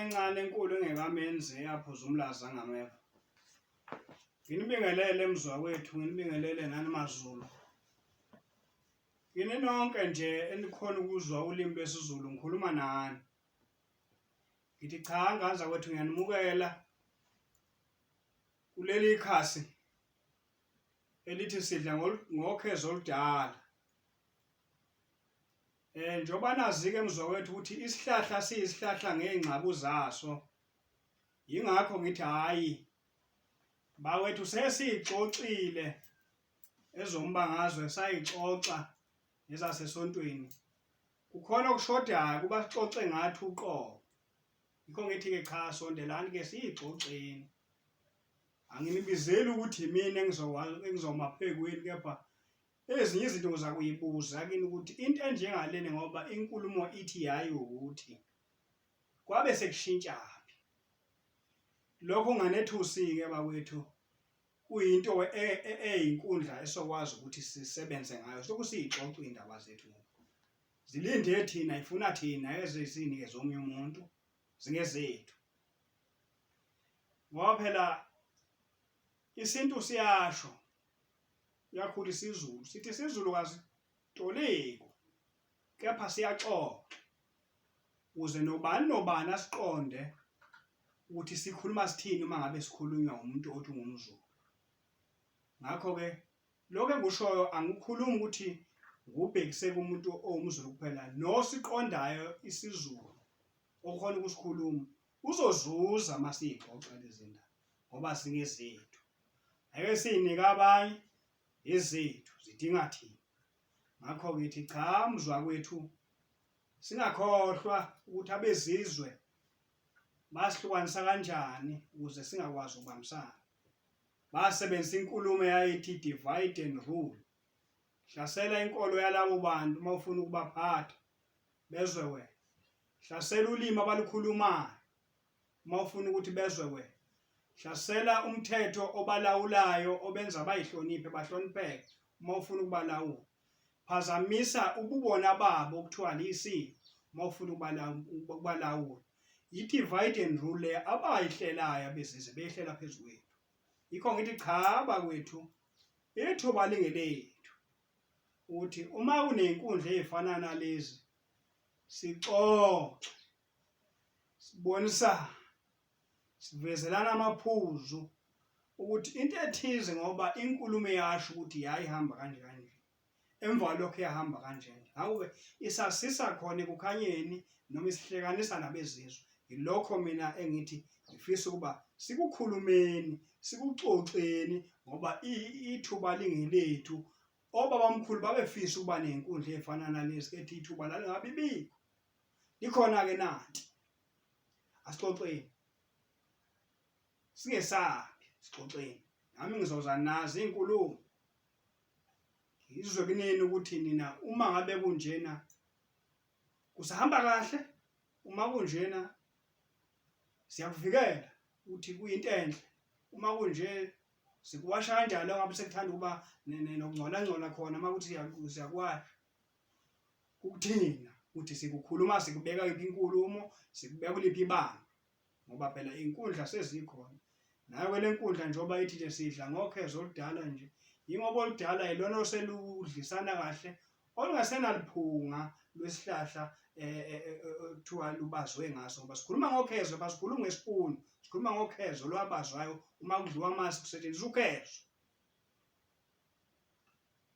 encane enkulu engekamenzi eyaphuza umlazi angameva nginibingelele mzwa wethu nginibingelele nani mazulu yini nonke nje enikhona ukuzwa ulimi lwesiZulu ngikhuluma nani ngithi cha nganza kwethu ngiyanimukela kuleli khasi elithi sidla ngokhezo oludala Eh njoba nazike mzowethu ukuthi isihlahla siyisihlahla ngezingxabu zaso. Yingakho ngithi hayi bawethu sesixoxile ezombangazwe sayixoxa nezasesontweni. Kukhona okushodayo kuba sixoxe ngathi uqobo. Yikho ngithi ke cha sondelani ke siyixoxeni. Anginibizeli ukuthi yimina engizowa engizoma phekweni kepha Ezinye izinto ngizakuyibuza kini ukuthi into enjengaleni ngoba inkulumo ithi yayi ukuthi kwabe sekushintshaphi lokho nganethusi-ke bakwethu kuyinto e, e, eyinkundla esokwazi ukuthi sisebenze ngayo soku siyixoxa iy'ndaba zethu zilinde thina ifuna thina ezizini-ke zomunye umuntu zingezethu ngoba phela isintu siyasho Uyakhula isiZulu. Sithi isiZulu kasitoliko kepha siyaxoxa ukuze nobani nobani asiqonde ukuthi sikhuluma sithini uma ngabe sikhulunywa umuntu othi ungumZulu. Ngakho-ke lokho engikushoyo angikhulumi ukuthi ngubhekise kumuntu owumZulu kuphela nosiqondayo isiZulu okhona ukusikhuluma uzozuza uma siyixoxa lezi ndaba ngoba singezethu. Ake sinike abanye izethu zidinga thina. Ngakho ngithi cha mzwa kwethu singakhohlwa ukuthi abezizwe basihlukanisa kanjani ukuze singakwazi ukubambisana. Basebenzisa inkulumo eyayithi divide and rule. Hlasela inkolo yalabo bantu uma ufuna ukubaphatha bezwe wena. Hlasela ulimi abalukhulumayo uma ufuna ukuthi bezwe wena hlasela umthetho obalawulayo obenza bayihloniphe bahlonipheke uma ufuna ukubalawula phazamisa ububona babo okuthiwa liyisini uma ufuna ukubalawula yi-divide and rule le abayihlelayo abezizwe beyihlela phezu kwethu yikho ngithi cha bakwethu ithuba lingelethu ukuthi uma kunenkundla ezifana nalezi sixoxe sibonisa sivezelana amaphuzu ukuthi into ethize ngoba inkulumo eyasho ukuthi yayihamba kanje kanje emva lokho yahamba kanjena ngakho-ke isasisa khona ekukhanyeni noma isihlekanisa nabezizwe yilokho mina engithi ngifisa ukuba sikukhulumeni sikuxoxeni ngoba ithuba lingelethu obabamkhulu babefisa ukuba nenkundla efana nalezi ethi ithuba lalingabi bikho likhona-ke nanti asixoxeni singesabi sixoxeni nami ngizoza nazo iy'nkulumo ngizwe kunini ukuthi nina uma ngabe kunjena kusahamba kahle uma kunjena siyakuvikela ukuthi kuyinto enhle uma kunje sikuwasha kanjalo ngabe sekuthanda ukuba nokungcola ngcola khona uma ukuthi siyakuwasha kukuthina ukuthi sikukhuluma sikubeka yiphi inkulumo sikubeka kuliphi ibanga ngoba phela inkundla sezikhona nayo ke lenkundla njengoba ithi nje sidla ngokhezo oludala nje yingoba oludala yilona oseludlisana kahle olungasenaliphunga lwesihlahla eh, eh, eh, kuthiwa lubazwe ngaso ngoba sikhuluma ngokhezo basikhuluma ngesipunu sikhuluma ngokhezo lwabazwayo uma kudliwa amasi kusetshenziswa ukhezo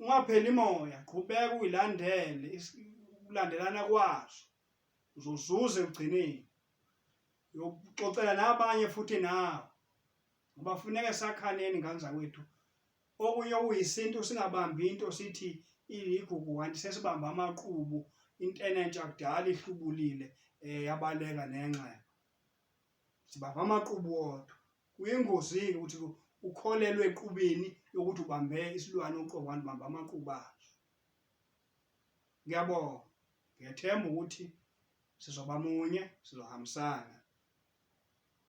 ungapheli moya qhubeka uyilandele ukulandelana kwazo uzozuza ekugcineni yokuxoxela nabanye futhi nawe ngoba funeke sakhaneni ngane zakwethu okunye okuyisintu singabambi into sithi iligugu kanti sesibamba amaqubu intenentsha kudala ihlubulile um yabaleka nenxeba sibamba amaqubu wodwa Kuyingozi-ke ukuthi ukholelwe equbeni yokuthi ubambe isilwane uqobo kanti ubambe amaqubu aso. Ngiyabonga. Ngiyethemba ukuthi sizoba munye, sizohambisana.